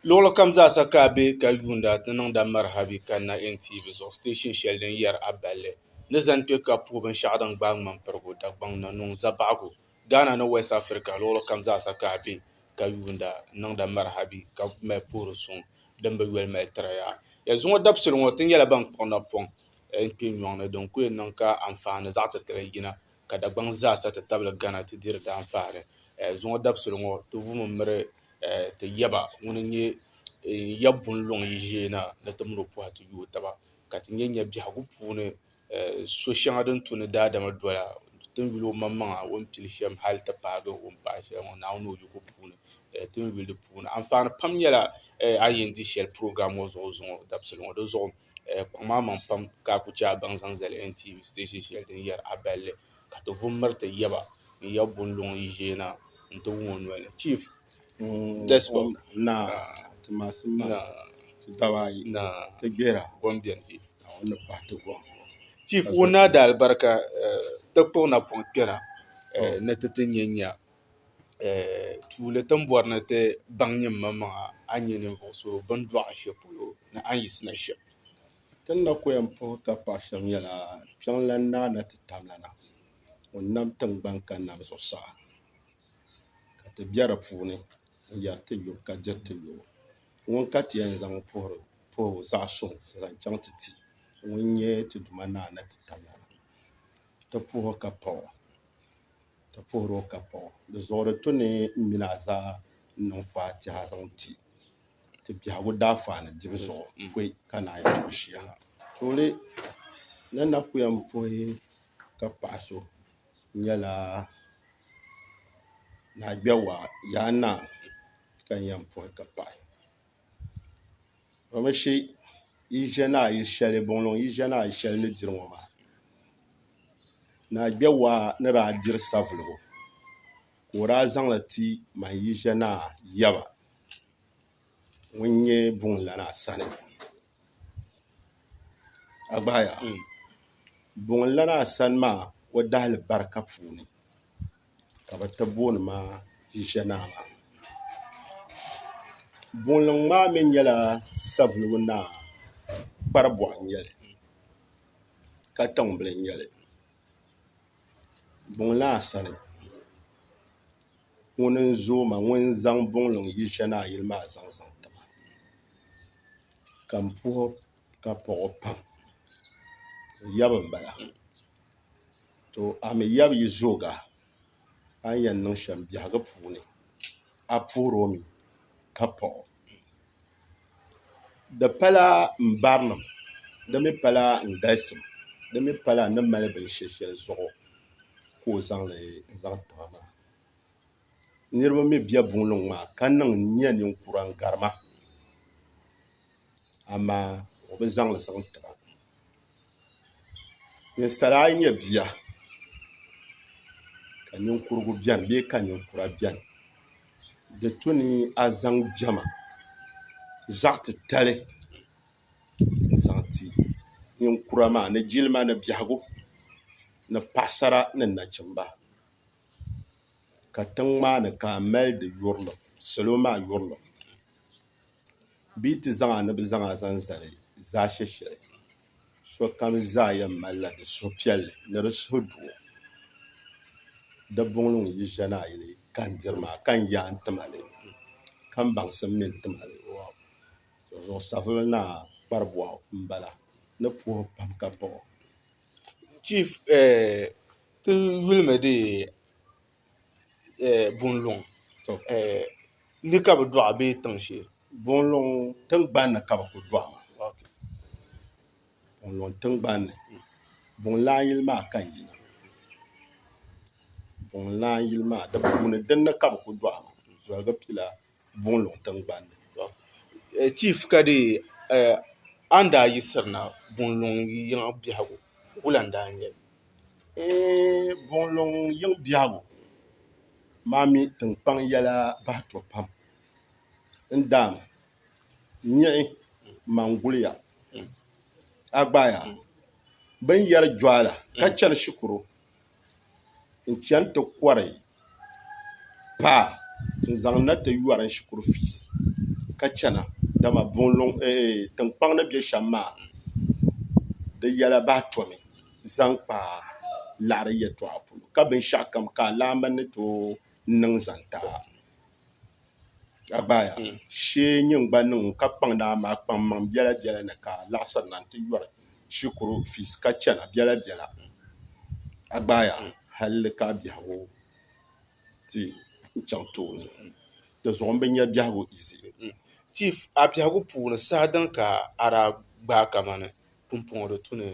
Luɣili kam zaa sa ka a be ka yuuni a ti niŋda maraha bee ka na NTA zuɣu station shɛli din yɛri a balli ni zani kpe ka puhi binshɛɣu din gbaai ŋmanpirigu Dagbaŋ na niŋ zabaɣigu Ghana ni West Africa luɣili kam zaa sa ka a be ka yuuni a ni niŋda maraha bee ka mali puhiri suŋ din bi yoli mali tiri ya. Ya zuŋɔ dabisili ŋɔ ti nyɛla ban kpuɣi napɔŋ n-kpe nyɔŋ ni din ku yɛn niŋ ka anfaani zaɣ'titali yina ka Dagbaŋ zaa sa ti tabili Ghana ti diri daanfaɣiri. Zuŋɔ dabisili ŋɔ ti vumi miri ti yaba ŋun n-nyɛ ya bunluŋ yi ʒee na ni ti mini o pɔhi ti yooi taba ka ti nya nya biɛhigu puuni so shɛŋa din tu ni daadama doya ti ni yuli omaŋmaŋa o ni pili shɛm hali ti paagi o ni paai shɛli ŋɔ Naawuni ni o yiko puuni ti ni yuli di puuni. Anfaani pam nyɛla a ni yɛn di shɛli program ŋɔ zuɣu zuŋɔ dabisili ŋɔ di zuɣu. Kuɣu maa maŋ pam ka a ku chɛ a baŋ zaŋ zali NTA station shɛli din yɛri A Balli ka ti vu m-miri ti yaba n ya Bunluŋ yi ʒiɛ na nti wum o noli ni. Chief Despot, Naa, ti masim maa, ti daba ayi, Naa, ti gbera, gom beni, Chief, Naa, o ni pahi ti gom. Chief, Wunnaadalibarika ti kpuɣi napɔŋ kpɛna ni ti ti nya nya tuuli timbɔri ni ti baŋ nyinimaŋmaŋa a ni nyɛ ninvuɣ so bini dɔɣi shɛli polo ni a ni yiɣisina shɛm. Ti ni na ku yɛn puhi ka pahi shɛm nyɛla Kpiɔŋlan Naa na ti tam la na ŋun nam tiŋgbɔŋ ka nam zuɣusaa ka ti be di puuni n-yɛri ti lu ka diri ti lubu. Ŋun ka ti yɛn zaŋ puhibu zaɣ suŋ n-zaŋ chaŋ ti ti ŋun nyɛ ti Duuma Naa na ti tam la na, ti puhi ka pahi o. ka puhiri o ka paɣ o. Di zuɣuri ti ni mini a zaa n-niŋ faatiha zaŋ ti ti biɛhigu daafani dibu zuɣu pɔi ka naan yi tuhi shia ha. Tuuli ni na ku yɛn puhi ka paɣ so nyɛla Naagbɛwa Yaa Naa ka n yɛn puhi ka paɣi. Domishi yi ʒɛ naa yili shɛli buŋluŋ yi ʒɛ naa yili shɛli ni diri ŋɔ maa naa kpɛ waa ni daa diri savuligu ka o daa zaŋli ti man yi ʒɛ naa yaba ŋun nyɛ buŋ lana sani buŋ lana sani maa o dahali barika puuni ka bɛ ti booni ma Ʒiʒianaa maa. Boonliŋ maa mi nyɛla Savelugu Naa Kparibɔɣu n-nyɛ li ka tiŋbili n-nyɛ li Buŋlaa sani. Ŋuni n-zooi ma ŋun zaŋ Buŋliŋ Ʒiʒianaa yili maa zaŋ zaŋ ti ma ka m puhi ka pɔɣi o pam. O yabi m-bala. To a mi yab yi zooga a ni yɛn niŋ shɛm biɛhigu puuni, a puhir o mi ka paɣ o. Di pala n barinim, di mi pala n galisim, di mi pala n ni mali binshɛ shɛli zuɣu ka o zaŋ li zaŋ ti ma maa. niriba mi be buŋliŋ maa ka niŋ n-nyɛ ninkura n-gari ma amaa o bi zaŋ li zaŋ ti ba ninsala ayi nyɛ bia ka ninkurugu beni bee ka ninkura beni di tu ni a zaŋ diɛma zaɣ' titali n-zaŋ ti ninkura maa ni jilima ni biɛhigu ni paɣisara ni nachimba ka tiŋ maa ni ka a mali di yurilim salo maa yurilim bɛ yi ti zaŋ a ni bɛ zaŋ a zaŋ zali zaashɛ shɛli sokam zaa yɛn malila di suhupiɛlli ni di suhudoo di buŋ ni ŋun yi ʒiya ni a yuli ka n diri maa ka n yaai n ti mali ka n baŋsim mi n ti mali zuɣusavili ni a kparibɔɣu m-bala ni puhi pam ka baɣa o chief ti yuli mi di bunluŋ ni ka bi dɔɣi bee tiŋ shee. Bunluŋ tingbani ni ka bi ku dɔɣi ma bunluŋ tingbani ni buŋ lan yili maa ka n yina buŋ lan yili maa di puuni din ni ka bi ku dɔɣi ma zɔligi pila. buŋ luŋ tingbani chief ka di a ni daa yiɣisiri na buŋ luŋ yiŋ biɛhigu wula n daa nyɛli buŋ luŋ yiŋ biɛhigu maa mi tinkpaŋ nyɛla bahi to pam n daam niɣi man guliya a gbaai a bini yɛri juala ka chani shikuru n chɛŋ ti kɔri paa n zaŋ na ti yɔri n shikuru fiis ka chana dama tinkpaŋ ni bɛ shɛm maa di yɛla bahi tomi zaŋ kpa laɣiri yɛtɔɣa polo ka binshɛɣukam ka alaamba ni tooi niŋ zaŋ ti a a gbaaya shee n-nyɛ n-gba niŋ ka kpaŋ naa maa kpaŋ maŋ biɛla biɛla ni ka laɣisiri na nti yɔri shikuru fiis ka chana biɛla biɛla a gbaaya halli ka a biɛhigu ti chaŋ tooni di zuɣu m bi nya biɛhigu izi chief a biɛhigu puuni saha din ka a daa gbaai kamani pumpɔŋɔ di tu ni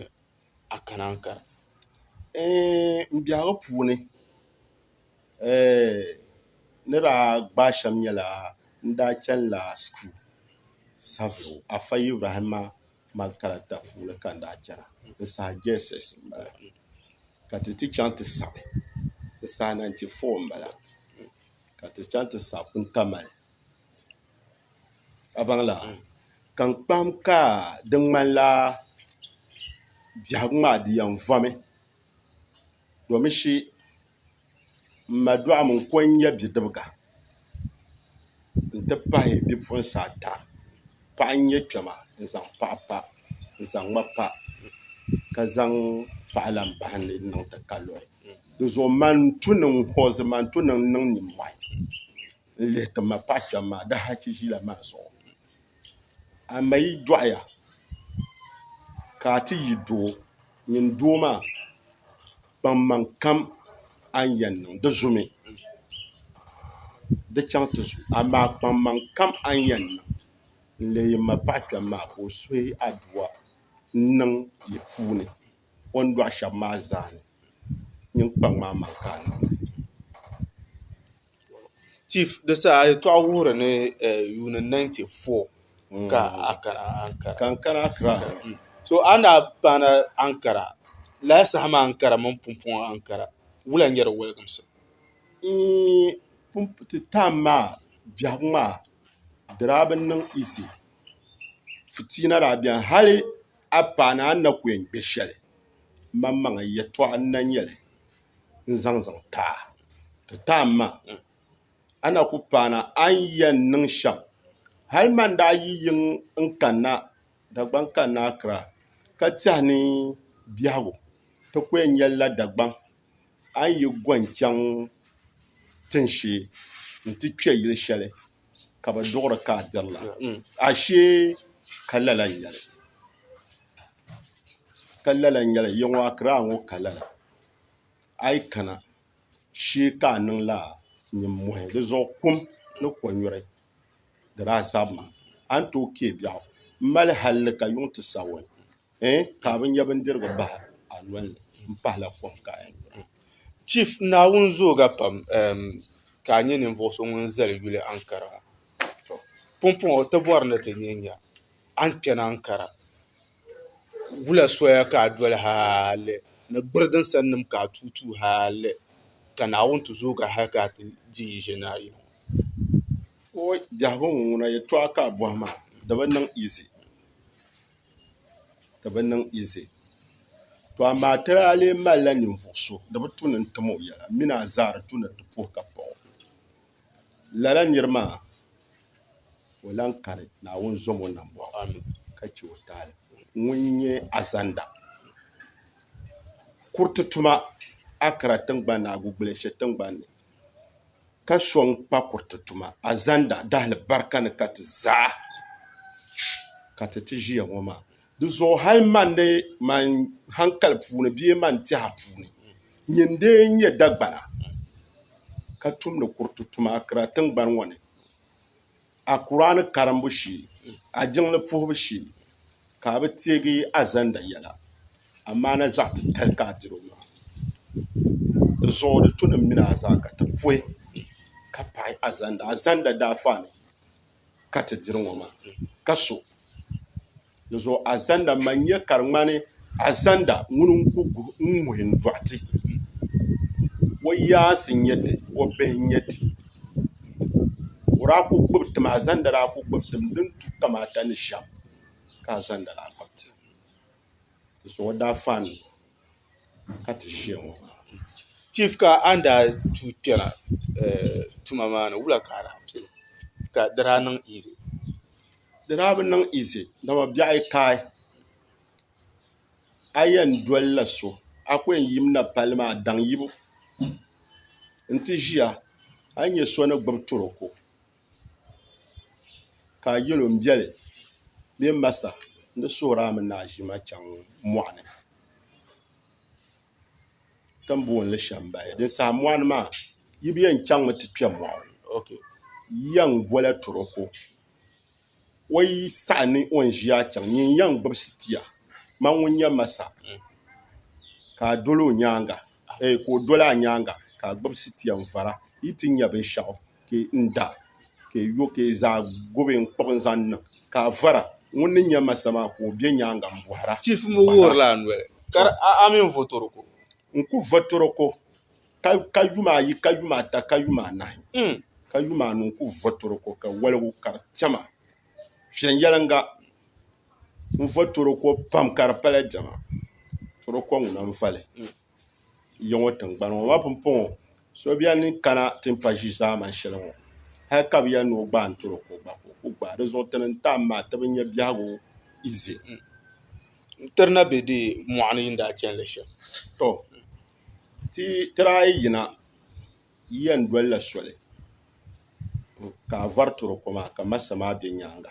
a kana n kara n biɛhigu puuni ni daa gbaai shɛm nyɛla n daa chɛnila shikuru sabiri Afa Ibrahima Makaranti puuni ka n daa chɛna n saha jss n bala ka ti ti chɛŋ ti saɣi n saha 94 n bala ka ti chɛŋ ti saɣi Puntamali a baŋla ka n kpahim ka di ŋmanila biɛhigu maa di yɛn vomi domi shi m ma Duɣim n-ko n-nyɛ bidibiga nti pahi bipuɣinsi ata paɣa n-nyɛ kpɛma n-zaŋ paɣa pa n-zaŋ ma pa ka zaŋ paɣa lahi bahi ni n-niŋ ti ka luhi dinzuɣu man tu niŋ hoozi man tu niŋ niŋ nimmɔhi n lihi ti ma paɣ kpɛm maa di hachi ʒila maa zuɣu a ma yi dɔɣiya ka a ti yi doo nyin doo maa kpaŋmaŋ kam a ni yɛn niŋ di zumi di chaŋ ti zu amaa kpaŋmaŋ kam a ni yɛn niŋ n-leei m ma paɣ kpɛm maa ka o suhi a dua n-niŋ yi puuni o ni dɔɣi shɛba maa zaa ni nyin kpaŋ maa mali ka a niŋda chief di saha a yɛltɔɣa wuhiri ni yuuni ninety four ka a kana Ankara ka n kana Ankara so a ni daa paana Ankara lala saha maa Ankara mini Pumpɔŋɔ Ankara wula n-nyɛ di wɔliginsi n-n-n ti time maa biɛhigu maa di daa bi niŋ easy fitiina daa beni hali A paana a ni na ku yɛn kpe shɛli maŋmaŋa yɛtɔɣa n-na nyɛ li n-zaŋ zaŋ ti a. Ti taai ma, a na ku paana a ni yɛn niŋ shɛm. Hal man daa yi yiŋ n-kanna Dagbaŋ kanna Akra ka tɛhi ni biɛhigu ti ku yɛn nyɛlila Dagbaŋ, a ni yi go n-chaŋ tinshee nti kpe yili shɛli. ka bi duɣiri ka a dirila ashee ka lala n-nyɛli ka lala n-nyɛli yɛŋɔ Akiraa ŋɔ ka lala a yi kana shee ka a niŋ lala nimmɔhi di zuɣu kum ni kɔnyuri di daa zabimi a ni tooi kpee biɛɣu m-mali hali ni ka yuŋ ti Sawɔni. eh ka bɛ nya bindirigu bahi a nolini m-pahila kom ka eh mm. Chief Naawuni zooga pam ehm ka a nyɛ ninvuɣ so ŋun zali yuli Ankara ŋɔ to pumpɔŋɔ ti bɔri ni ti nyɛ nya a ni kpɛni Ankara wula soya ka a doli hali ni gbiri din sannim ka a tuui tuui hali ka Naawuni ti zoogi a hali ka a ti di yi ʒe ni a yili ŋɔ. Wooy biɛhigu ŋuna yɛtɔɣa ka a bɔhi maa di bi niŋ easy. ka bi niŋ izi to amaa ti daa lee malila ninvuɣ so di bi tu ni n-tim o yɛla mini a zaa di tu ni ti puhi ka paɣ o. Lala nir maa ka o lan kani, Naawuni zom o nambɔɣu ka chɛ o taali. Ŋun nyɛ Azanda kuriti tuma Akra tiŋgbani ni Agugbuleshe tiŋgbani ni. ka sɔŋ kpa kuriti tuma azanda dahilibarika ni ka ti zaa ka ti ti ʒiya ŋɔ maa di zuɣu hali man ni man hankali puuni bee man tɛha puuni nyɛ n-lee nyɛ Dagbana ka tumdi kuriti tuma akira tiŋgbani ŋɔ ni. a Kuraani karimbu shee, a jiŋli puhibu shee ka a bi teegi a zanda yɛla, amaa na zaɣ titali ka a tiri o maa. Di zuɣu di tu ni m mini a zaa ka ti puhi ka paɣi a zanda. A zanda daa faani ka ti diri ŋɔ maa ka so. di zuɣu azanda man nya ka di ŋmani azanda ŋuni n-ku ŋ-ŋuhi n-dɔɣi ti o yaansi n-nyɛ ti o bihi n-nyɛ ti o daa ku gbubi tim azanda daa ku gbubi tim din tu kamaata ni shɛm ka azanda daa kpab ti di zuɣu o daa faai ni ka ti ʒiya ŋɔ chief ka a ni daa tuui kpɛna tuma maa ni wula ka a daa pili ka di daa niŋ easy. di daa bi niŋ easy dama biɛɣu yi kaai a yɛn dolila so a ku yɛn yimina palli maa daŋ yibu n ti ʒiya a ni nyɛ so ni gbubi toroko ka a yɛl o n biɛli bee n masa n di suhuri a mini a ʒima chɛŋ mɔɣuni ti ni booni li shɛmbaya din saha mɔɣuni maa yi bi yɛn chaŋmi ti kpɛ mɔɣu yiya n-bola toroko O yi saɣi ni o ni ʒiya chaŋ nyɛ n yɛn gbubi sitia ma ŋun nyɛ masa ka a doli o nyaanga ee ka o doli a nyaanga ka a gbubi sitia n vara yi ti nya binshaɣu ka n da ka e yo ka e zaa gubi n kpuɣi n zaŋ niŋ ka a vara ŋun ni nyɛ masa maa ka o bɛ nyaanga n bɔhira chief mi wuhirila a noli ka a mini votoroko n ku votoroko ka yuma ayi ka yuma ata ka yuma anahi ka yuma anu n-kuli vo toroko ka waligu ka di tɛma viɛnyɛliŋga n-vo toroko pam ka di pala diɛma toroko ŋuna m-vali ya ŋɔ tiŋgbani ŋɔ ma pumpɔŋɔ so beni n-kana ti ni pa ʒi zaamani shɛli ŋɔ hali ka bɛ yɛli ni o gbaai toroko gba ka o ku gbaai di zuɣu ti ni n-tam maa ti bi nya biɛhigu ize n-tiri na be deei mɔɣu ni yi ni daa chani li shɛm ti tiraai yina yiya n-doli la soli ka a vari tiri o koma ka masa maa be nyaaŋa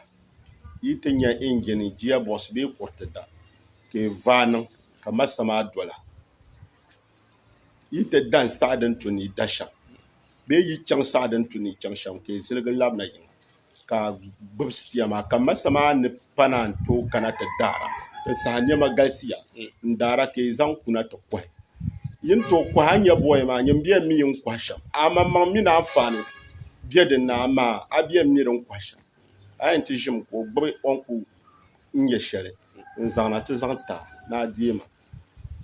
yi ti nya injin giya bɔɣisi bee kuriti da ka yi vaai niŋ ka masa maa dola yi ti da n-saɣi din tu ni yi da shɛm bee yi chaŋ saɣi din tu ni yi chaŋ shɛm ka yi ziligi labina yiŋa ka gbubi sitia maa ka masa maa ni pana n tooi kana ti daara n saha niɛma galisiya n daara ka yi zaŋ kuna ti kohi yi ni tooi kohi a ni nyɛ booy maa nyin bɛn mi n kohi shɛm amaŋmaŋ mini anfaani bɛ dinni amaa a bɛn mi din kohi shɛm a yɛn ti ʒimi ka o gbubi o ni ku nyɛ shɛli n zaŋna ti zaŋ ta ni a deemi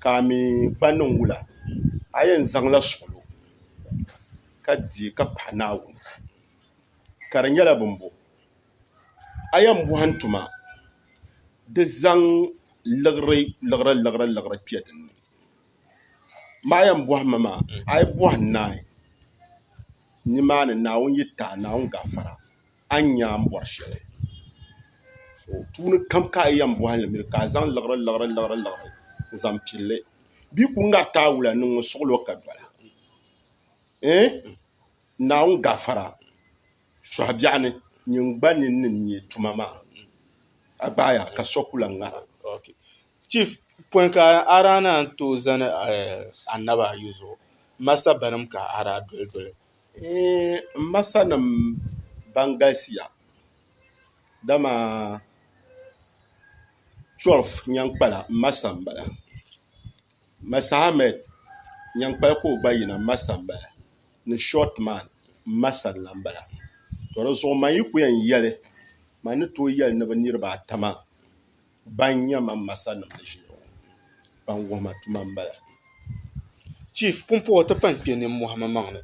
ka a mi kpa niŋ wula a yɛn zaŋla suɣulo ka deei ka paɣi Naawuni ka di nyɛla bin bo a yɛn bɔhim tuma di zaŋ liɣiri liɣiri liɣiri liɣiri kpe din ni ma yɛn bɔhi mi maa a yi bɔhi naai ni maa ni Naawuni yi tahi Naawuni gafara a ni nya a ni bɔri shɛli so puuni kam ka a yɛn bɔhi li mi ka a zaŋ liɣiri liɣiri liɣiri liɣiri n zaŋ pili li bɛ yi kuli ŋariti a wula niŋ mi suɣilo ka dɔla. eh Naawuni gafara suhi biɛɣu ni nyin gba ni ni nyɛ tuma maa a gbaaya ka so kula ŋara chief pɔi ka a daa ni yɛn tooi zani annabi ayi zuɣu m ma sabbanim ka a daa doli doli eh m ma sanim ban galisiya dama 12 nyankpala m ma sani m bala Massa Ahmed Nyankpal ka o gba yina Massa m-bala ni Short Man Massa la m-bala. To di zuɣu man yi ku yɛn yɛli man ni tooi yɛli ni bɛ niriba ata maa ban nyɛ man Massanim ni ʒiya ŋɔ ban wuhi ma tuma m-bala. Chief, pumpɔŋɔ ti pan kpe nimmɔhi ma maŋ ni.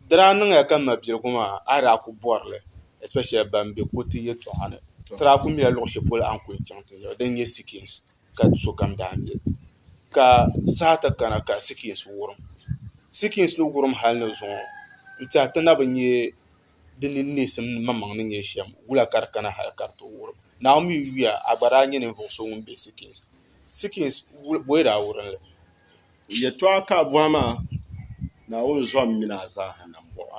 Di daa niŋya ka mabiligu maa a yi daa ku bɔri li especially ban be Kotu yɛltɔɣa ni ti daa ku mila luɣ shɛli polo a ni ku yɛn chaŋ ti nya ba din nyɛ Sikins. ka sokam daa mi ka saha ti kana ka sikiriti wurim sikiriti ni wurim hali ni zuŋɔ n tiɛhi ti na bi nyɛ di ni neesim ni maŋmaŋ ni nyɛ shɛm wula ka di kana hali ka di ti wurim naawuni mi yuya a gba daa nyɛ ninvuɣu so ŋun bɛ sikiriti sikiriti bɔyi daa wurimli yɛltɔɣa ka a bɔhi maa naawuni zɔhim mini a zaaha nambɔɣu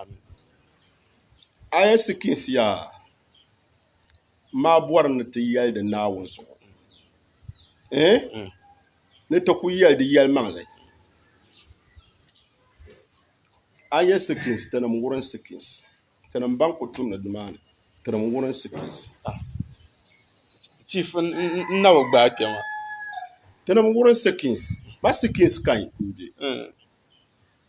a yɛn sikiriti yaa maa bɔri ni ti yɛli di Naawuni zuɣu eh? Hmm. ni ti ku yɛli di yɛlimaŋli a yɛ sikins tinim wurin sikins tinim ban ku tumdi nimaani tinim wurin sikins ah. chief n na bi gbaai kpɛma tinim wurin sikins ba sikins kan n bɛ hmm.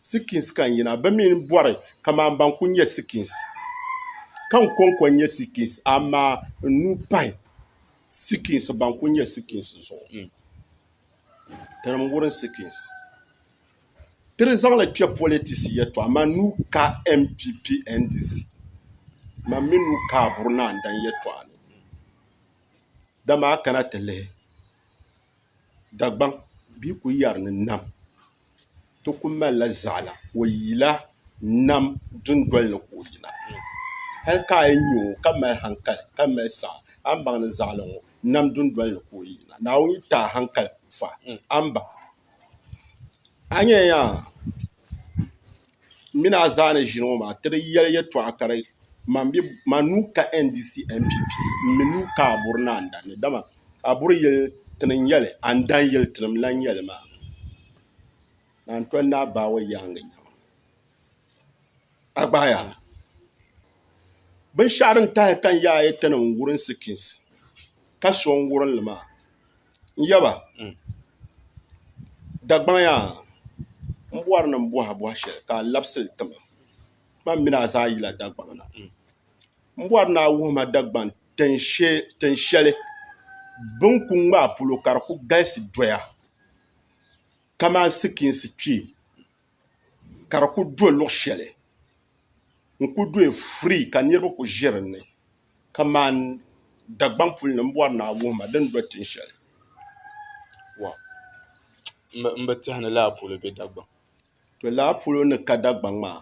sikins ka n yina, bɛ mi ni bɔri kaman ban kul nyɛ sikins, ka n kɔŋko n-nyɛ sikins, amaa n nuu pahi sikins ban kul nyɛ sikins zuɣu. Tinim wurin sikins. Ti di zaŋ li kpe politisi yɛtɔɣa, man nuu ka NPP NDC, man mi nuu ka Aburi Naa N-daŋ yɛtɔɣa ni. Dama a kana ti lihi. Dagbaŋ bia ku yɛri ni nam ti ku malila zaɣila ka o yila nam dundoli ni ka o yina hali ka a yi nya o ka mali hankali ka mali saɣa a ni baŋ ni zaɣili ŋɔ nam dundoli ni ka o yina Naawuni yi ti a hankali kuŋ fa a ni baŋ a nyɛla yaa N mini a zaa ni ʒini ŋɔ maa, ti di yɛli yɛtɔɣa ka di man bɛ man nuu ka NDC NPP m-mi nuu ka a buri ni a ni dan li, dama a buri yɛli ti ni n-yɛli, a ni dan yɛli ti ni mi lan yɛli maa, naan toli ni a baawo yaaŋa nya ma. A gbaaya la. Binshɛɣu din tahi ka n yaai ti ni n-wurin Sikins ka so n-wurin li maa, N yaba, Dagbaŋ yaa, m bɔri ni m bɔhi a bɔhi shɛli ka a labisi li tima. Ti mini a zaa yila Dagbaŋ na. M bɔri ni a wuhi ma Dagbaŋ tin shɛli bɛ ni ku ŋmaai polo ka di ku galisi doya kamani sikiinsi kpee. ka di ku do luɣ shɛli n-ku doya firii ka niriba ku ʒe din ni kaman Dagbaŋ puli ni m bɔri ni a wuhi ma din do tin shɛli. N bi tehi ni Laapolo be Dagbaŋ. Laapolo ni ka Dagbaŋ maa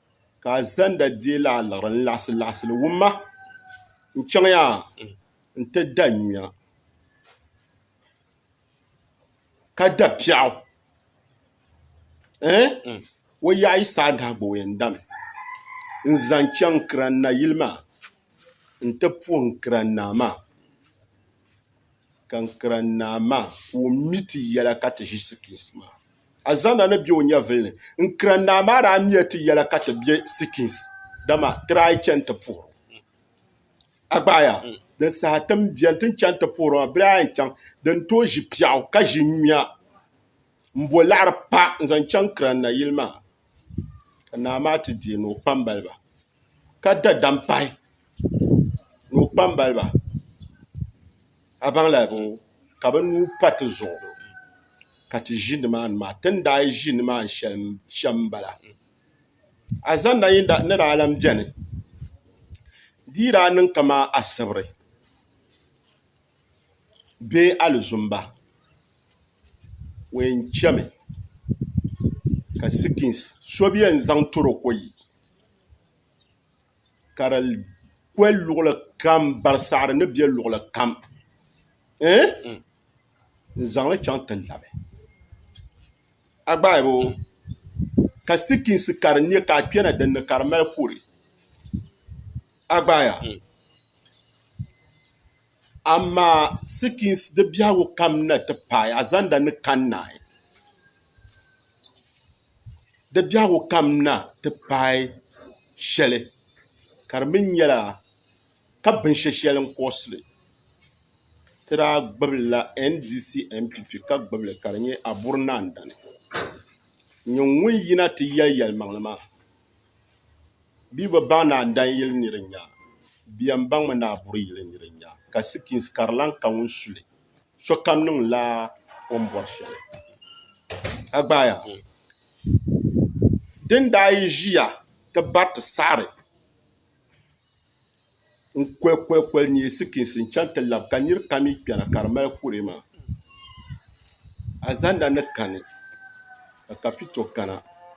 ka a zanda deei la a liɣiri n-laɣisi laɣisi li wumma n-chaŋ ya nti da nyuya ka da piɛɣu ɛɛh o yaɣ yi saai nahi gba o yɛn dami n-zaŋ chaŋ Kiran Naa yili maa nti puhi Kiran Naa maa ka Kiran Naa maa ka o mi ti yɛla ka ti ʒi situsi maa a zanna ni be o nyɛvili ni n-kira naa maa daa miya ti yɛla ka ti be Sikins, dama ti daa yi chani ti puhir o. A gbaaya, din saha ti ni beni ti ni chani ti puhir o maa, bɛ daa yɛn chaŋ di ni tooi ʒi piɛɣu ka ʒi nyuya m-bo laɣiri pa n-zaŋ chaŋ kira nayili maa, ka naa maa ti deei ni o kpambaliba. ka da dam pahi ni o kpambaliba a baŋ lala bɔŋɔ ka bi nuu pa ti zuɣu ka ti ʒi ni maa ni maa ti ni daa ʒi ni maa shɛm shɛm n bala a zaŋ na yɛŋda ni daa lan bɛni di yi daa niŋ kaman asibiri bee alizumba o yɛn chami ka sikiins so bi yɛn zaŋ tɔroko yi ka di kwe luɣuli kam barisaɣiri ni be luɣuli kam ɛɛn n zaŋli chaŋ ti labi a gbaai bɛ o ka sikiinsi ka di nyɛ ka a kpɛna din ni ka di mali kuri a gbaaya amaa sikiinsi di biɛhigu kam na ti paai a zaŋda ni kani naai di biɛhigu kam na ti paai shɛli ka di mi nyɛla ka binshɛshɛli n-kurɔsi li ti daa gbibila NDC NPP ka gbibi li ka di nyɛ Aburi Naa Dani. Nyɛ ŋun yina ti yɛli yɛlimaŋli maa bɛ yi bi baŋ Naa Dani yili ni di nya bɛ yɛn baŋmi ni Aburi yili ni di nya ka sikins ka di lahi ka ŋun su li. sokam niŋla o ni bɔri shɛli a gbaaya din daa yi ʒiya ti bari ti saɣari n koli koli koli nyɛ sikiinsi n chaŋ ti labi ka niri kam mi kpɛna ka di mali kuree maa azanda ni kani ka kapito kana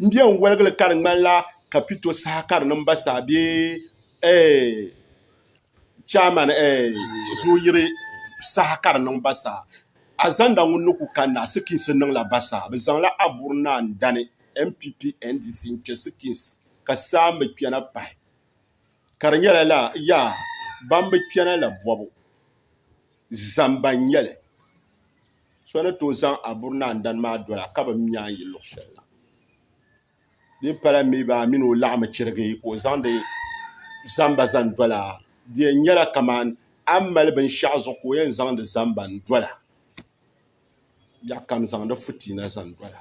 n bɛ n wɔligili ka di ŋmanila ka pito saha ka di niŋ ba saha bee chɛman zoyiri saha ka di niŋ ba saha a zaŋda ŋun ni ku kanna asikiis niŋla ba saha bi zaŋla Aburi Naa n dani npp ndc n kpɛ sikiis ka saa n bi kpɛna pahi ka di nyɛla laa yaa ban bi kpɛna la bɔbu zamba n nyɛli so ni tooi zaŋ aburi ni andani maa dola ka bi mi nyaŋ yi luɣ shɛli na di pala mi baa a mini o laɣimi chirigi ka o zaŋdi zamba zaŋ dola di yɛn nyɛla kamani a ni mali binshɛɣu zuɣu ka o yɛn zaŋdi zamba n-dola ya kam zaŋdi fitiina zaŋ dola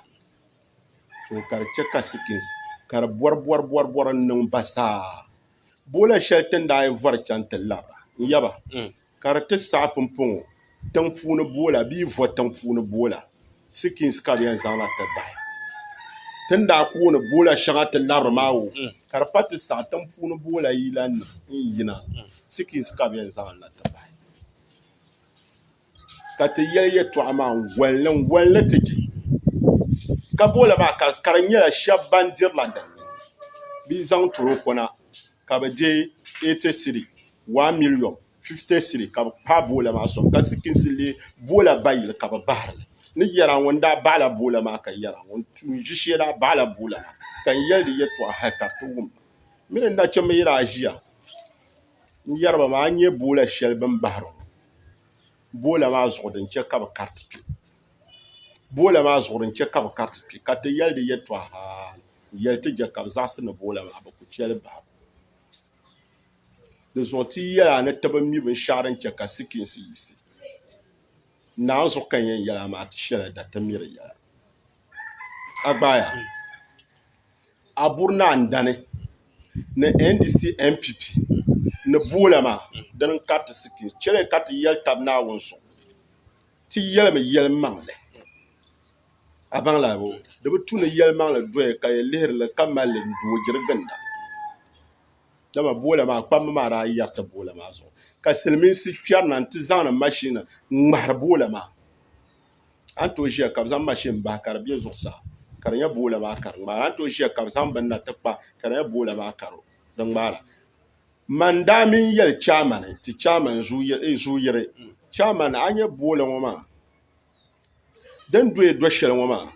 ka di chɛ ka sikisi ka di bɔribɔribɔri n-niŋ ba zaa Boola shɛli ti ni daa yɛn vɔri chaŋ ti labira n-yaba ka di ti saɣi pumpɔŋɔ tiŋ'puuni boola bee vɔ tiŋ'puuni boola sikins ka bɛ yɛn zaŋ na ti bahi ti ni daa kooni boola shɛŋa ti labiri maa o ka di pa ti saɣi tiŋ'puuni boola yilanima n-yina sikins ka bɛ yɛn zaŋ li na ti bahi. ka ti yɛli yɛtɔɣa maa n-ŋɔnli n-ŋɔnli ti je ka booli maa ka ka di nyɛla shɛba ban dirila din ni bɛ zaŋ toroko na ka bɛ je eighty cedi one million fifty cedi ka bɛ kpaai booli maa sɔŋ ka sikisi leei booli bayi ka bɛ bahiri li ni yɛra ŋuni daa bahi la booli maa ka yɛra ŋuni n-ʒi shee daa bahi la booli maa ka n yɛli di yɛtɔɣa hali ka di ti wum ma mi ni nachimba yi daa ʒiya n yɛri ba maa a ni nyɛ boola shɛli bini bahiri ŋɔ boola maa zuɣu di ni chɛ ka bi kariti kpɛ boola maa zuɣu di ni chɛ ka bi kariti kpɛ ka ti yɛli di yɛtɔɣa haa n yɛli ti jɛ ka bi zaɣisi ni boola maa bi ku che li bahibu di zuɣu ti yi yɛli a ni ti bi mi binshɛɣu di ni chɛ ka sikiinsi yiɣisi naanzuhi ka n yɛn yɛli a maa ti shɛla da ti mi di yɛla. agbaaya a buri ni a ni dani ni NDC NPP ni boola maa dini n kariti sikiriti chɛli ka ti yɛli tabi naawuni suŋ ti yɛlimi yɛlimaŋli a baŋla bɔ di bi tu ni yɛlimaŋli doya ka yi lihiri li ka mali li n doo diri ginda dama boola maa kpamba maa daa yɛriti boola maa zuɣu ka silimiinsi kpɛri na n ti zaŋdi mashini n ŋmahiri boola maa. a ni tooi ʒiya ka bi zaŋ mashin bahi ka di bɛ zuɣusaa ka di nyɛ boola maa ka di ŋmaara a ni tooi ʒiya ka bi zaŋ bini na ti kpa ka di nyɛ boola maa ka di ŋmaara man daa mii yɛli chɛman ti chɛman zu yiri chɛman a ni nyɛ boola ŋo maa din doya do shɛli ŋo maa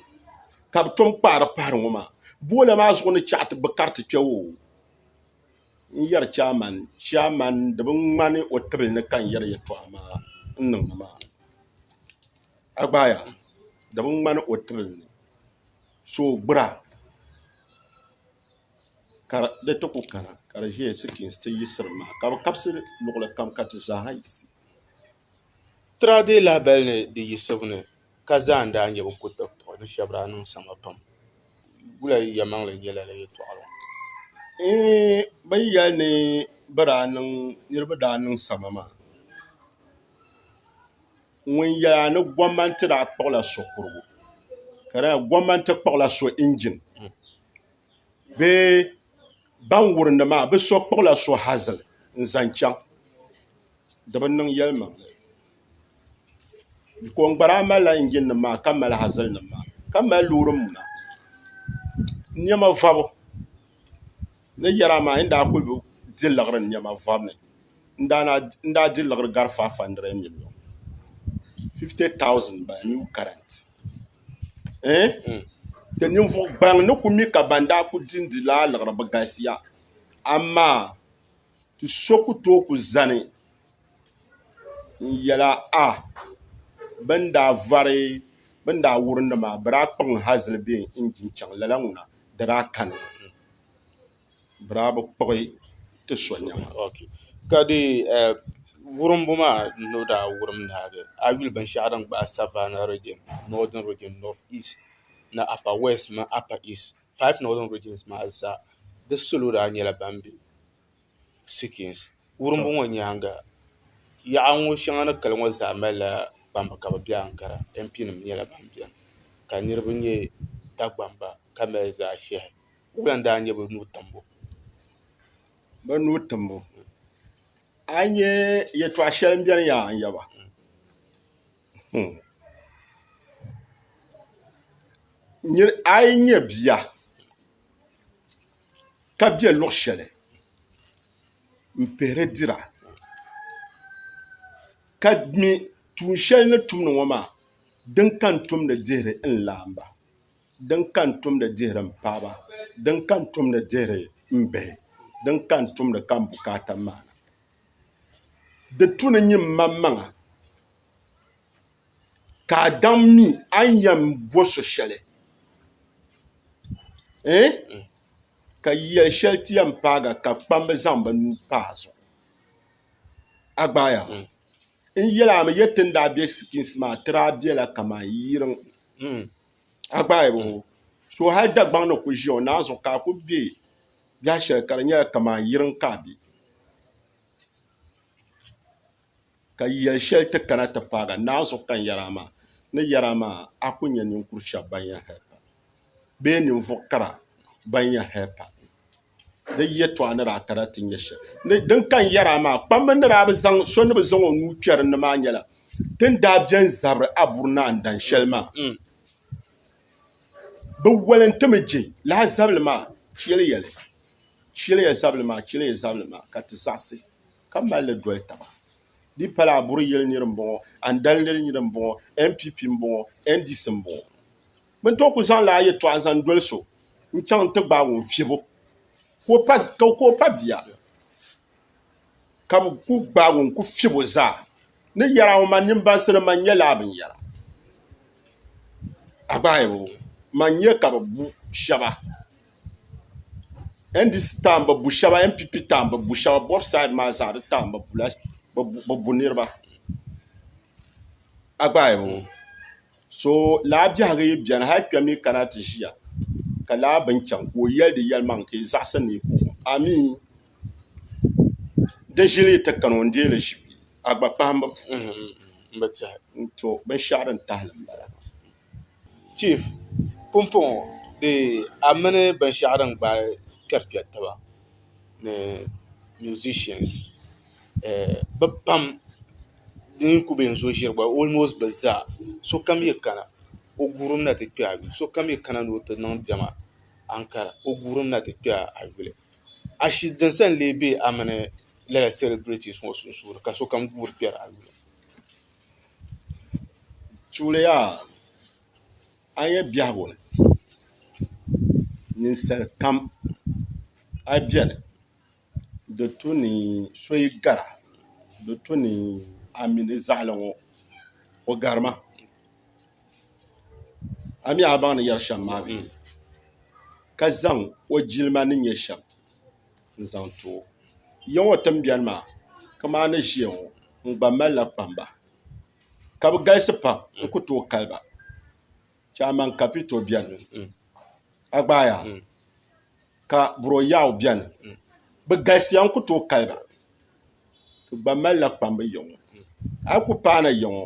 ka bi tom kpaari pahari ŋo maa boola maa zuɣu ni chɛ ti bi kariti kpɛ woo n yɛri chairman chairman di bi ŋmani o tibili ni ka n yɛri yɛltɔɣa maa n niŋdi maa a gbaaya di bi ŋmani o tibili ni so o gbura ka di ti ku kana ka di ʒɛya sikiriti ti yiɣisiri maa ka bi kabisi luɣuli kam ka ti zaaha yiɣisi ka zaa n daa nyɛ bin kuli tiri puɣi ni shɛba daa niŋ sama pam wula yi ya maŋli n nyɛla la yɛltɔɣa la eeh ba yi yɛli ni ba daa niŋ niriba daa niŋ sama maa ŋun yɛli a ni gɔmmanti daa kpuɣi la so kurigu ka di nyɛla gɔmmanti kpuɣi la so injin bee ban wurim di maa bi so kpuɣi la so hazili n zaŋ chaŋ di bi niŋ yɛlimaŋli. Koŋgbara malila injin nim maa ka mali hazili nim maa ka mali loori muna niɛma vɔbu ni yɛri amaa a yɛn daa kuli di liɣiri niɛma vɔbu ni n daa di liɣiri gari faiv handirɛd miliyon fifiti taawusin n bala niw karɛnt ti ninvuɣu gaŋ ni ku mi ka ban daa kuli dindi laa liɣiri bi galisiya amaa ti so ku tooi ku zani n yɛla a bɛ ni daa vari bɛ ni daa wuri ni maa bɛ daa kpuɣi n hazili bɛ injin chaŋ lala ŋuna di daa kani mi bɛ daa bi kpuɣi ti so nɛma. Ka dee wurimbu maa ni o daa wurim ni a bee a yi yuli binshɛɣu din gbaai Savannah Region, Northern Region, North East ni Upper West mini Upper East, five Northern Regions maa zaa di salo daa nyɛla ban be sikins wurimbu ŋɔ nyaaŋa yaɣa ŋɔ shɛŋa ni kali ŋɔ zaa malila kpamba ka bi bɛ ankara MP nim nyɛla ban biɛni ka niraba nyɛ dagbamba ka mali zaɣ ʒiɛhi wula n daa nyɛ bi nuu timbu bi nuu timbu a yi nyɛ yɛltɔɣa shɛli n biɛni yaha n yaba a yi nyɛ bia ka be luɣ shɛli m-pihiri dira ka mi tuun shɛli ni tumdi ŋɔ maa din ka n tumdi dihiri n laamba din ka n tumdi dihiri m paɣiba din ka n tumdi dihiri m bihi din ka n tumdi ka m bukaata maana di tu ni nyin maŋmaŋa ka a daŋ mi a ni yɛn bo so shɛli ɛɛh ka yɛli shɛli ti yɛn paaga ka kpamba zaŋ bɛ nuu pa a zuɣu a gbaai a n yɛli a mi yɛ ti ni daa be sikins maa a ti daa bela kamani yiriŋ a gbaai mi hoo so hali Dagbaŋ ni ku ʒiya o naan zuɣu ka a ku be biɛh shɛli ka di nyɛla kamani yiriŋ ka a be ka yɛl shɛli ti kana ti paag a naai zuɣu kani yɛri a maa, ni yɛri a maa, A ku nya ninkur shɛb bɛn yɛn hal pa, bee ninvuɣ kara bɛn yɛn hal pa? Di yɛtɔɣa ni daa kana ti nya shɛli ni din kani yɛri a maa, kpamba ni daa bi zaŋ so ni bi zaŋ o nuu kpɛ din ni maa nyɛla din daa bɛn zabiri a buri ni a ni dan shɛli maa. Bɛ walintimi je lahi zabili maa, chɛliya li, chɛliya zabili maa, chɛliya zabili maa, ka ti zaɣisi. ka mali li doli taba di pala aburi yili niri n bɔŋɔ andali niri niri n bɔŋɔ npp n bɔŋɔ ndc n bɔŋɔ bi ni tooi ku zaŋla yɛltɔɣa zaŋ doli so n chaŋ ti gbaagi o n fiɛbu ka o pa bia ka bi ku gbaagi o n ku fiɛbo zaa ni yɛri a ŋɔ man nini bansi ni man nyɛ laa bin yara a gbaai o man nyɛ ka bi bu shaba NDC taɣi n bi bu shɛba NPP taɣi n bi bu shɛba both side maa zaa di taɣi n bi bu la bi bu niriba a gbaai mi ŋɔ so lala bɛhigu yi bɛni hali kpɛm mi kana ti ziya ka lala bini chaŋ ka o yɛli di yɛli maŋ ka yi zaɣisi ni yi kpi o amii di zili yi ti kani o n dɛɛ li zi a gba kpahimbu puuni to bini shɛɣu dini tahili n bala. chief pumpɔŋɔ dee a mini binshɛɣu din gbaai kpɛri kpɛri taba ni musicians bɛ pam din kuli be n-zo ʒiri gba almost bɛ zaa sokam yi kana o guurimi na ti kpe a yuli sokam yi kana ni o ti niŋ diɛma aŋkara o guurimi na ti kpe a yuli ashili din sa n-lee be a mini lala celebrities ŋɔ sunsuuni ka sokam guuri kpɛri a yuli tuliya a yi nyɛ biɛhigu ni ninsal kam a yi biɛni di tu ni so yi gara di tu ni a mi ni zaɣali ŋɔ o gari ma a mi a baŋ ni yɛri shɛm maa bee ka zaŋ o jilima ni nyɛ shɛm n-zaŋ ti o. Ya ŋɔ tiŋbiɛni maa kaman ni ʒiya ŋɔ n gba malila kpamba ka bɛ galisi pam n ku tooi kali ba. Chairman Kapito beni, Agbaya ka Bro Yaw beni. Bɛ galisiya n-ku tooi kali ba. Bɛ gba malila kpamba ya ŋɔ. A yi ku paana ya ŋɔ.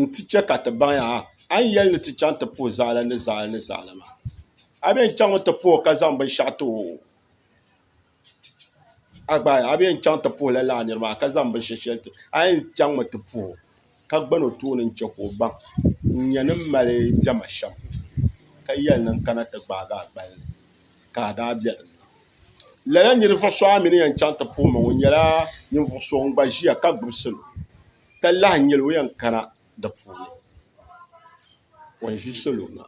n-ti chɛ ka ti baŋ ya ha, a ni yɛli ni ti chaŋ ti puhi zaɣili ni zaɣili ni zaɣili maa, a bee n-chaŋmi ti puhi o ka zaŋ binshɛɣu ti o? A gbaai, a bee n-chaŋ ti puhi lala a niri maa ka zaŋ binshɛɣu shɛli ti o? A yɛn chaŋmi ti puhi o, ka gbani o tooni n-chɛ ka o baŋ n-nyɛ ni m mali diɛma shɛm, ka yɛli ni n kana ti gbaagi a gbali ni. ka a daa be din ni. Lala ninvuɣ so a mi ni yɛn chaŋ ti puhi ma ŋɔ nyɛla ninvuɣ so ŋun gba ʒiya ka gbibi salo, ka lahi nyɛl o yɛn kana di puuni. Ŋun ʒi salo na,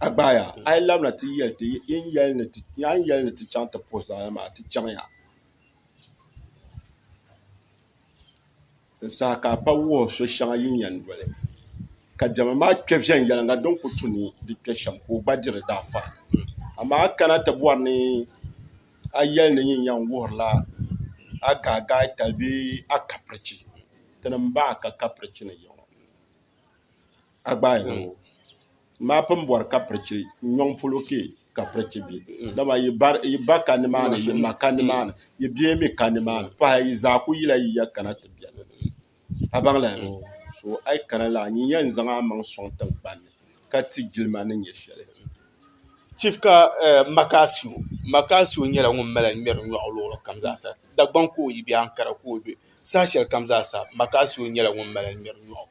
a gbaaya a yi labina ti yɛl ti yi ni yɛli ni ti chaŋ ti puhi zaɣ yini maa, ti chaŋya. Di saha ka a pa wuhi so shɛŋa yi ni yɛn doli ka diɛma maa kpe viɛnyɛliŋga din ku tu ni di kpe shɛm ka o gba diri daa fara. Amaa a kana ti bɔri ni a yɛli ni yin yɛn wuhirila a gaagaai tali bee a kapirichi. Tinim bahi ka kapirichi ni yiŋɔ. a gbaai na ŋɔ maa pun bɔri ka pirichi nyɔŋ polo kpe ka pirichi be dama yi ba ka nimaani yi ma ka nimaani yi bia mi ka nimaani pahi yi zaa kuli yila yi ya kana ti beni a baŋla ya so a yi kana la nyin yɛn zaŋ a maŋ sɔŋ tiŋgbani ni ka ti jilima ni nyɛ shɛli. Chief ka Makasio Makasio nyɛla ŋun mali ŋmɛri nyɔri luɣili kam zaasa Dagbaŋ ka o yi be Ankara ka o be Saha shɛli kam zaa sa, Makaasio nyɛla ŋun mali n ŋmɛri nyɔɣu.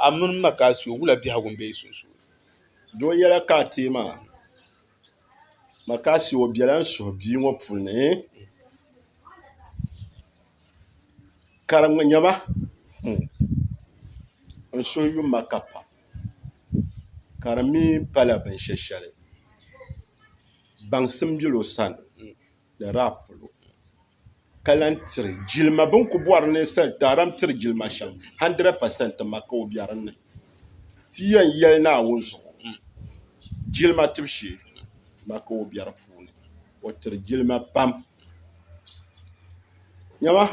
A mini Makaasio, wula biɛhigu m-be yi sunsuuni? Do yɛla ka a teei ma? Makaasio, o bela n suhu bia ŋɔ puli ni, ka di ŋma nyama n suhu yum ma ka pam, ka di mi pala binshɛshɛli, baŋsim bela o sani ni daa polo. ka lan tiri jilima bɛ ni ku bɔri ni Taara n-tiri jilima shɛm, 100 pɛsɛnti ma ka o be din ni. Ti yɛn yɛli Naawuni zuɣu jilima tibu shee ma ka o be di puuni. O tiri jilima pam. Nyama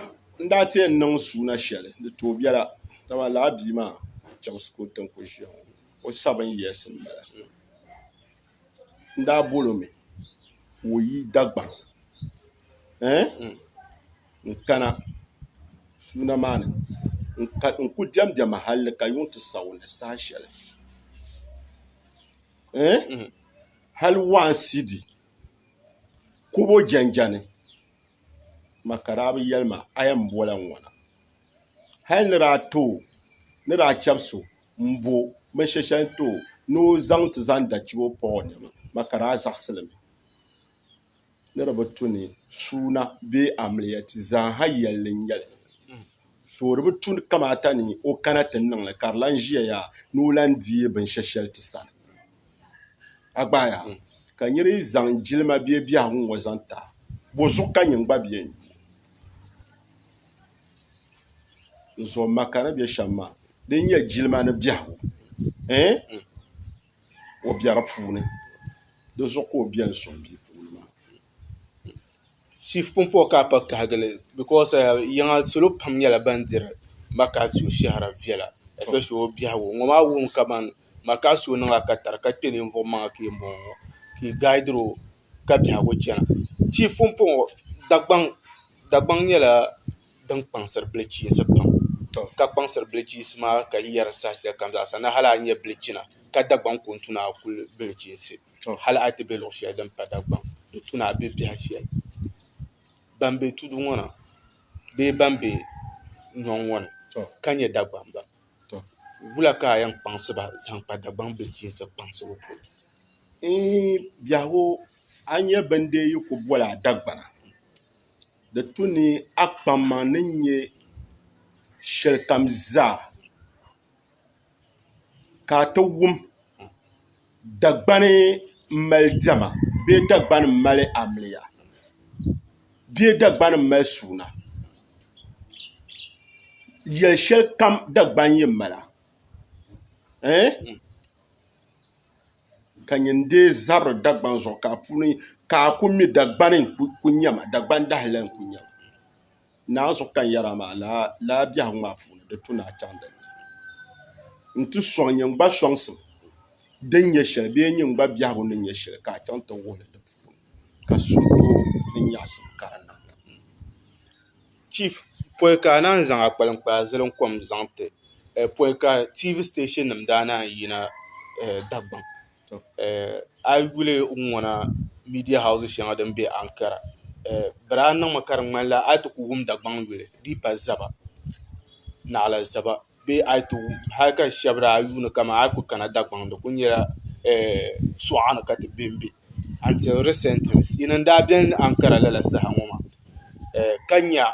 n daa ti yɛn niŋ suuna shɛli di tooi biɛla dama lala bia maa chaŋsi ka o ti ni ku ʒia ŋɔ. O sabin years m-bala. n daa bol o mi ka o yi Dagbani n kana suuna maa ni n ku diɛm diɛma halli ka yuŋ ti sa o ni saha shɛli hal waa n sidi kubo jɛnjɛni ma ka daa bi yɛli ma a yɛn bola n ŋɔna hal ni daa too ni daa chɛbisi o m-bo binshɛli shɛli n-ti o ni o zaŋ ti zaŋ da chibo pa o nɛma ma ka daa zaɣisili mi ni di bi tu ni suuna bee amiliya ti zaaha yɛlli n-nyɛ li so di bi tu kamaata ni o kana ti niŋ li ka di lan ʒiya yaa ni o lan deei binshɛli shɛli ti sani a gba a yaa ka nir yi zaŋ jilima bee biɛhigu ŋ-ŋɔ zaŋ ti a bɔ zuɣu ka nyin gba bi yɛn nyu n zuɣu ma ka ni bɛ shɛm maa di ni nyɛ jilima ni biɛhigu o bɛ di puuni di zuɣu ka o biɛni soŋ bia puuni maa chiif pumpɔŋɔ ka a pa kahigi ni bikos yiŋa salo pam nyɛla ban diri maka so shɛhira viɛla espeshili o biɛhigu ŋɔ maa wuhimi kamani maka so niŋla katari ka kpɛ ninvuɣu maŋa ka yɛn bɔŋɔ ka i gaaidiro ka biɛhigu chɛna tia pumpɔŋ Dagbaŋ nyɛla din kpaŋsiri bilichiinsi pam to ka kpaŋsiri bilichiinsi maa ka yi yɛri saha shɛli kam zaa sa ni hali a nya bilichina ka Dagbaŋ ku ni tu ni a kuli bilichiinsi hali a ti bɛ luɣ shɛli din pa Dagbaŋ di tu ni a bɛ biɛha shɛli ban bɛ tudu ŋɔ na bee ban bɛ nyɔŋ ŋɔ ni ka nyɛ Dagbamba tɔ wula ka a yɛn kpaŋsi ba zaŋ kpa Dagbaŋ bilichiinsi kpaŋsibu polo? Eeh biɛhigu, a nyɛ bɛn deei yi ku boli a Dagbana, di tu ni a kpamma ni nyɛ shɛlikam zaa ka a ti wum Dagbani mali diɛma bee Dagbani mali amiliya bee Dagbani mali suuna yɛli shɛli kam Dagbani yi mala ɛɛh ka nyɛ n-deei zabiri Dagbani zuɣu ka a ku mi Dagbani n-ku nyɛ ma Dagbani dahili la n-ku nyɛ ma Naa zuɣu ka n yɛra maa laa biɛhigu maa puuni di tu ni a chaŋ din ni n ti sɔŋ nyin gba sɔŋsim din nyɛ shɛli bee nyin gba biɛhigu ni nyɛ shɛli ka a chaŋ ti wuhi li di puuni ka so tooi ni nyaɣisim ka di niŋ li. Chief, pɔi ka a naan zaŋ a kpaliŋkpaa zilim kom zaŋ ti pɔi ka TV station nim daa naan yina Dagbaŋ A yi yuli n ŋɔna miidiya hawusi shɛŋa din bɛ Ankara di daa niŋmi ka di ŋmanila a yi ti ku wum Dagbaŋ yuli n ti pahi zaba naɣila zaba bee hali ka shab daa yuundi kamani a yi ku kana Dagbaŋ di ku nyɛla suɣa ni ka ti bɛnbɛ anti risɛntili yini n daa biɛni Ankara lala saha ŋɔ maa ka nya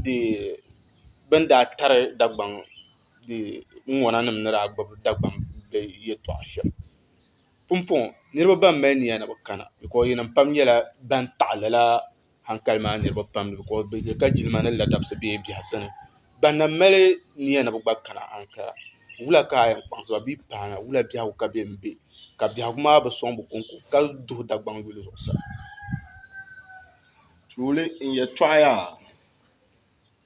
bi ni daa tari Dagbaŋ ŋuna nim ni daa gbubi Dagbaŋ bihi yɛltɔɣa shɛm pumpɔŋɔ niriba ban mali niya ni bi kana bikɔs yi nima pam nyɛla ban taɣi lala hankali maa niriba pam bikɔs bi yɛ ka jilima ni ladamsi bɛ biɛhasi ni ban na mali niya ni bi gba kana hankali wula ka yɛn kpaŋsi ba bee paana wula biɛhigu ka bɛ ni bɛ ka biɛhigu maa bi sɔŋ bi konko ka duhi Dagbaŋ yuli zuɣusaa.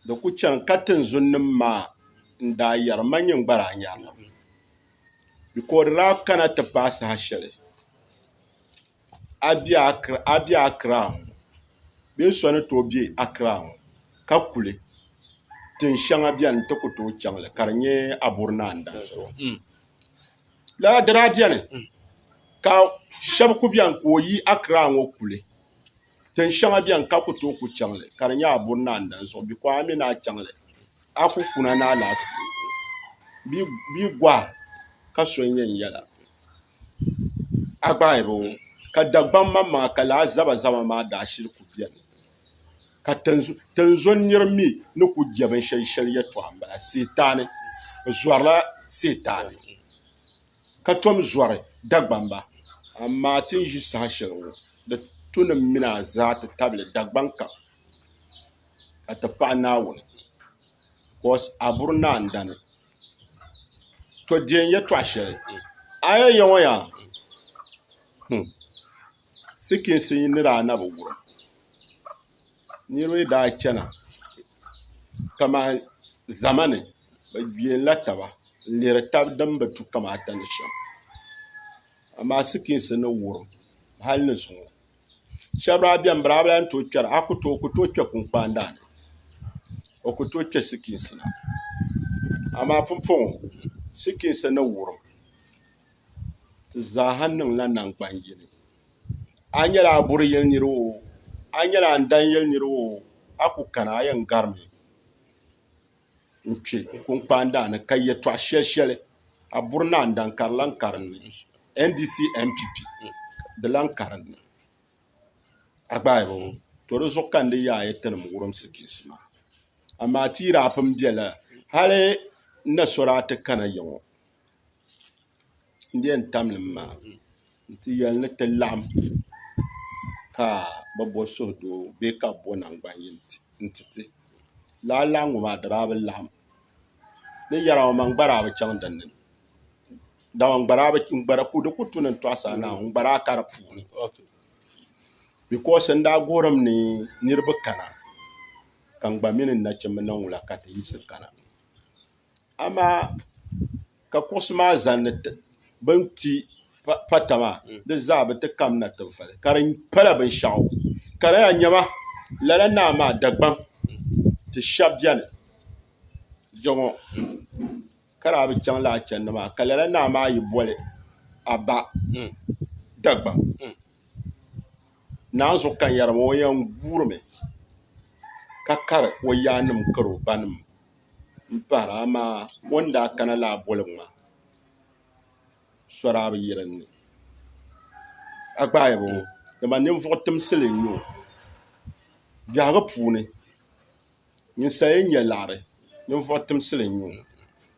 Di ku chani ka tinzunnim maa n-daa yɛri, Man nyin gba daa nyari li. Bɛ ka o di daa kana ti paai saha shɛli a be Akra ŋɔ bee so ni tooi be Akra ŋɔ ka kuli tin shɛŋa beni n-ti ku tooi chaŋ li ka di nyɛ Aburi Naa n-danso. Lala di daa beni ka shɛba ku beni ka o yi Akra ŋɔ kuli Tin shɛŋa bɛni ka ku tooi ku chaŋ li ka di nyɛ a buri ni a ni dan zuɣu biko a mi ni a chaŋ li a ku kuna ni alaafee bia gɔhi ka so n-yɛn yɛla a gbaai bi ŋɔ ka Dagbam maŋmaŋa ka lala zabazaba maa daa shiri ku bɛni ka tinzun nir mi ni ku je binshɛli shɛli yɛtɔɣa m-bala Sitaani bɛ zɔrila Sitaani ka tom zɔri Dagbamba. Amaa ti ni ʒi saha shɛli ŋɔ, di tu ni mini a zaa ti tabili Dagbaŋ kam ka ti paɣi Naawuni. Because a buri ni a ni dani. To deei n yɛtɔɣ shɛli, a yɛn ya ŋɔ yaa hmm sikiinsi yi ni daa na bi wurim. Niriba yi daa chana kaman zama ni bi gbɛla taba n lihiri tabi din bi tu kamata ni shɛm amaa sikiins ni wurim hali ni zuŋɔ shab daa biɛni bi daa bi lahi tooi kpɛra a ku tooi ku tooi kpɛ kunkpaan daani o ku tooi kpɛ sikiins na amaa pumpɔŋɔ sikiins ni wurim di zaaha niŋla nangbani yini a yi nyɛla a buri yili niraba oo a yi nyɛla a ni dan yili niraba oo a ku kana a yɛn garimi n kpɛ kunkpaandaa ni ka yɛltɔɣa shɛli shɛli a buri naan daŋ ka di lahi ka dinni ndc npp di lahi ka dinni a gbaai bi ŋɔ to di zuɣu ka n ni yaai ti nim wurunsi piisi maa amaa ti yi daa pun bɛ lala hali n na so daa ti kana ya ŋɔ n di yɛn tam nim maa n ti yɛli ni ti laɣam ka bi bo suhudoo bee ka bi bo nangbani yini n ti ti laa laɣangu maa dama a bi laɣam ni yɛra ŋɔ maa n gbaraa bi chɛŋ dinni dama di ku tuni n tɔɣu saa naau n gbaraa ka di puuni bikos n daa gorim ni niraba kana ka n gba mini n nachimbi niŋ wula ka ti yiɣisi kana amaa ka kuɣusi maa zanni bin kpi pata maa di zaa bi ti kamina tinfali ka di pala binshaɣu ka di yɛn nyɛba lala naa maa Dagbaŋ ti shɛba bɛni jɛŋɔ ka daa bi chaŋ lala chɛndi maa ka lala naa maa yi boli a ba Dagbaŋ naanzuɣu kanyari maa o yɛn guuri mi ka kari o yaanima kari o ba nima. m-pahira amaa o ni daa kana laa boligu maa sɔraa bi yiri n ni a gbaai bi ŋɔ dama ninvuɣ timsili n-nyɛ o biɛhigu puuni ninsal yi nya liɣiri ninvuɣ timsili n-nyɛ o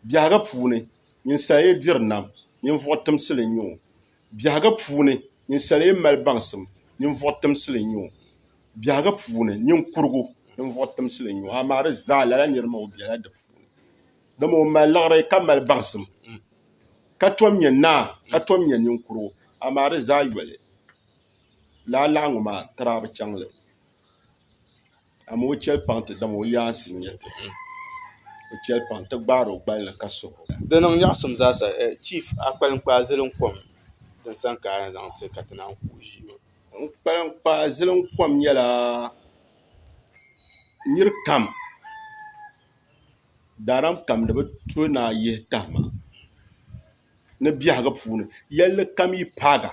biɛhigu puuni ninsal yi diri nam ninvuɣ timsili n-nyɛ o Biɛhiga puuni, ninsal yi mali baŋsim, ninvuɣ timsili n-nyɛ o. Biɛhiga puuni, niŋkurigu, ninvuɣ timsili n-nyɛ o, amaa di zaa lala nir maa o bela di puuni. Dama o mali liɣiri ka mali baŋsim, ka tom nyɛ naa ka tom nyɛ niŋkurigu, amaa di zaa yoli lala laɣiŋgu maa tirabu chaŋ li. Amaa o chɛli paŋ ti dam o yaansi n-nyɛ ti. O chɛli paŋ ti gbaari o gbali ni ka suh o. Di niŋ nyaɣisim zaasa Chief a kpalim kpaai zilim kom din san ka a yɛn zaŋ ti ka ti naan ku o ʒii maa? N kpalim kpaai zilim kom nyɛla nir kam daaran kam ni bi to ni a yihi tahima ni biɛhigu puuni yɛlli kam yi paagi a.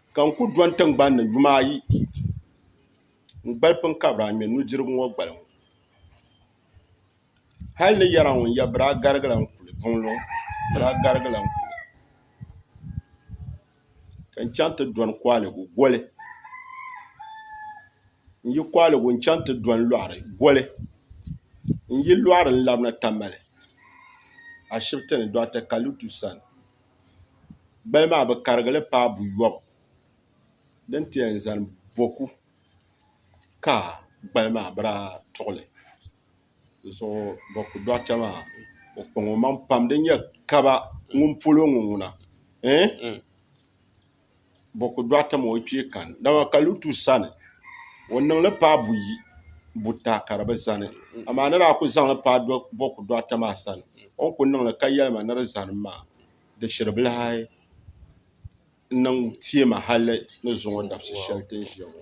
Ka n ku do n tiŋgbani ni yuma ayi n gbali piŋkabira n ŋmɛ nudirigu ŋɔ gbali ŋɔ hal ni yɛra ŋun yɛ bira garigila n kuli buŋ luŋ bira garigila n kuli ka n chaŋ ti dɔni kɔhiligu goli n yi kɔhiligu n chaŋ ti dɔni lɔɣiri goli n yi lɔɣiri n labina Tamale ashibiti ni Dɔɣita Kalitu sani Gbali maa bi karigi li paai buyɔbu din ti yɛn zani boku ka gbali maa bi daa tuɣi li di zuɣu boku dɔɣita maa o kpaŋ o maŋa pam di ni yɛn kaba ŋuni polo ŋɔ ŋuna. bɔ ku dɔɣita maa o kpee kani dama ka Lutu sani o niŋ li paai buyi buta ka di bi zani amaa ni daa ku zaŋ li paai bɔ ku dɔɣita maa sani o ni ku niŋ li ka yɛli ma ni di zani m maa di shiri bila hali n niŋ teei ma hali ni zuŋɔ dabisi shɛli ti ni ʒiya ŋɔ.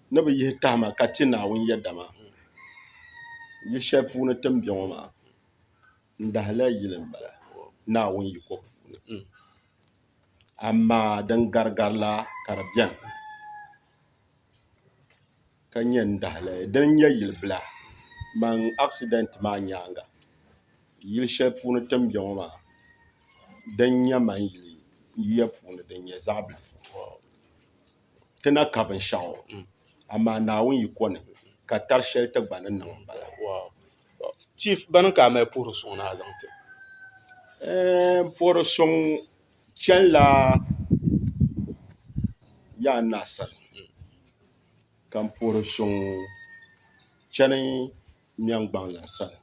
ni bi yihi tahima ka ti Naawuni yɛda maa yili shɛli puuni ti ni bɛ ŋɔ maa n dahila yili n bala Naawuni yiko puuni amaa din garigari la ka di bɛni ka nyɛ n dahili din nyɛ yili bila amaa asidɛnt maa nyaanga yili shɛli puuni ti ni bɛ ŋɔ maa din nyɛ maŋ yili yuya puuni din nyɛ zaɣ bilifu ti na ka binshɛɣu amaa Naawuni yi kɔni ka tari shɛli ti gba ni niŋ m-bala. Chief, bana ka a mali puhiri suŋ ni a zaŋ ti? Ɛɛn, puhiri suŋ chanila yaa n-na sani ka m-puhiri suŋ chani Miɛŋgbaŋlana sani,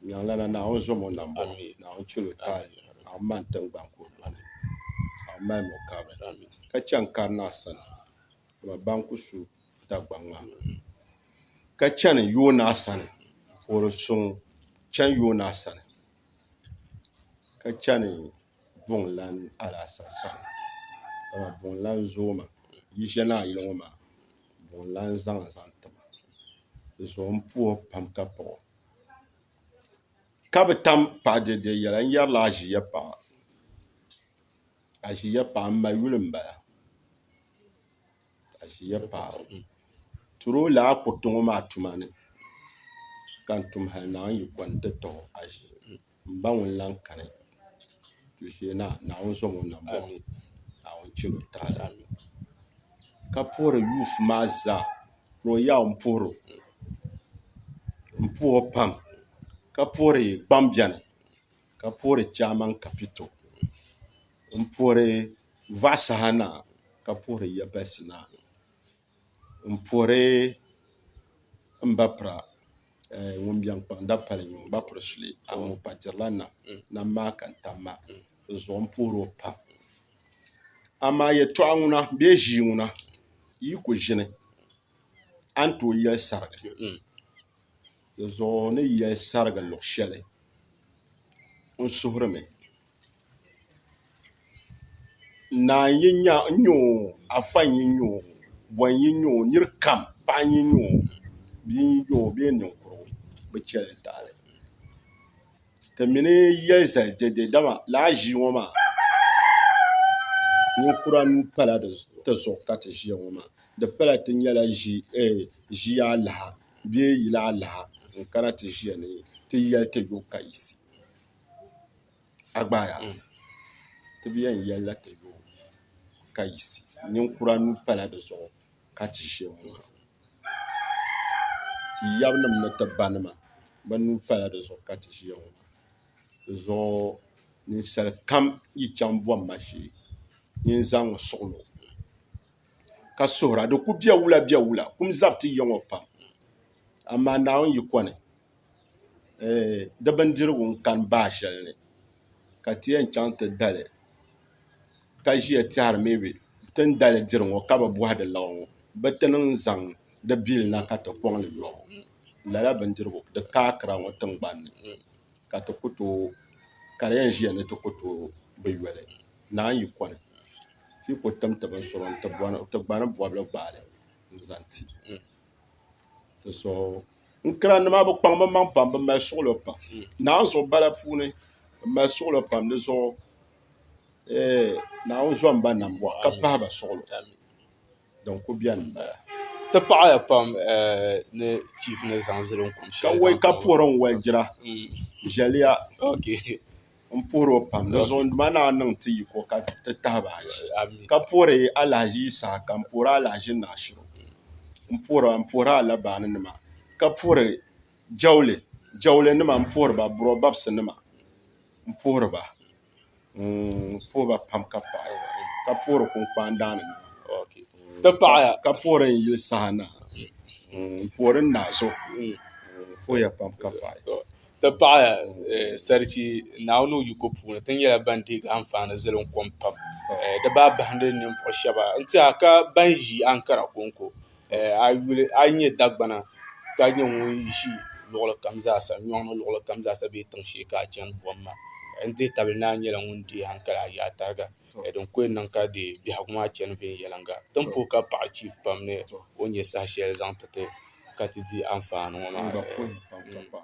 Miɛŋlana Naawuni zom o nambo, Naawuni chɛl o taali, Naawuni mani tiŋgbani ka o dɔni, Naawuni mali ni o kabiri, ka chani karinaa sani, dama ban ku su Dagbaŋ maa, ka chani yoonaa sani, puɣiri suŋ chani yoonaa sani, ka chani. buŋ lan alaasar saha dama buŋ lan zooi ma yi ʒiɛ ni a yuli ŋɔ maa buŋ lan zaŋ a zaŋ ti ma di zuɣu n puhi o pam ka paɣi o ka bi tam paɣi dɛdɛ yɛla n yɛrila a ʒiɛ paɣa a ʒiɛ paɣa m ma yuli n bala a ʒiɛ paɣa turo lala kuriti ŋɔ maa tuma ni ka n tum hali naawuni yiko n ti tɔɣi a ʒiɛ N ba ŋun lan kani tuuli shee na, Naawuni zom o nambɔɣu ni, Naawuni chɛl o taali ni. Ka puhiri Yusuf maa zaa, ka o yaɣi o m-puhir o, m-puh o pam, ka puhiri gbaŋ beni, ka puhiri chairman kapito, m-puhiri vɔɣi saha na, ka puhiri yabɛhisi na. n pori n ba pira ŋun biɛŋ kpaŋ dapali ŋɔ n ba piri suli amaa o pa dirila nam nam maa ka n tam maa di zuɣu n puhiri o pam amaa yɛltɔɣa ŋuna bee ʒii ŋuna yi ku ʒini a ni tooi yɛli sarigi di zuɣu ni yɛli sarigi luɣu shɛli n suhurimi Naa n-yi nya o n-nya o afa n-yi nya o bɔn n-yi nya o nir kam paɣa n-yi nya o bia n-yi nya o bee ninkurigu bɛ chɛli n taɣili ti mi ni yɛ zali dɛde dama lala ʒii ŋɔ maa ninkura nuu pala ti zuɣu ka ti ʒiya ŋɔ maa di pala ti nyɛla ʒii alaha bee yili alaha n-kana ti ʒiya ni ti yɛli ti yo kayisi a gbaai a nuu ti bi yɛn yɛlila ti yo ka yiɣisi ninkura nuu pala di zuɣu ka ti ʒɛ n ŋɔ ha ti yaba nim ni ti ba nima bi nuu pala di zuɣu ka ti ʒiya ŋɔ di zuɣu ninsal kam yi chɛŋ bɔmma shee nyin zaŋ n suɣilo ka suhura di ku bɛ wula bɛ wula kum zabi ti ya ŋɔ pam amaa naawuni yiko ni di bindirigu n kani baɣa shɛli ni ka ti yɛn chɛŋ ti dali ka ʒiya tɛhari mii bi ti ni dali diri ŋo ka bi bohi di lau ŋo bi ti niŋ zaŋ di bili na ka ti koŋ li yɔɣu lala bindirigu di ka akira ŋo tingbanni ka di yɛn ʒiya ni ti ku tooi bi yoli naan yi koni ti yi ku tim ti bin sɔŋ ti gbani bobli gbaali n zaŋ ti n kira nima bi kpaŋ bi maŋ pam bi mali suɣulo pam hmm. naanzuɣu bala puuni bi mali suɣulo pam di zuɣu eh, naawuni zɔn ba nam bɔɣu ka pahi ba suɣulo din ku bɛni n bala ti paɣaya pam eh, ni chief ni zaŋ zili n kum shɛli ka wai ka puhiri n wai jira hmm. jɛliya n puhiri o pam di zuɣu ma naa niŋ ti yiko ka ti tahiba aji ka puhiri alahaji isa ka n puhiri alahaji naashiru n puhira n puhiri alabaani nima ka puhiri jawuli jawuli nima n puhiri ba buro babisi nima n puhiri ba n puhi ba pam ka paɣi ka puhiri kunkpani daani nima ka puhiri n yili saha na n puhiri n naɣaso n puhiya pam ka paɣi ti pahi sarichi Naawuni o yiko puuni ti nyɛla ban deegi anfaani zilim kom pam di baa bahindi ninvuɣu shɛba n tiɛha ka ban ʒi ankara kɔŋko a yi yuli a yi nyɛ dagbana ka nyɛ ŋun ʒi luɣuli kam zaa sa nyɔŋ ni luɣuli kam zaa sa bee tiŋ shee ka a chani buɣim maa n dihi tabili ni a nyɛla ŋun deei ankara a yaai tariga din kuli niŋ ka di biɛhigu maa chani viɛnyɛliŋga din pooi ka paɣi chiifu pam ni o nyɛ saha shɛli zaŋ ti ti ka ti di anfaani ŋɔ maa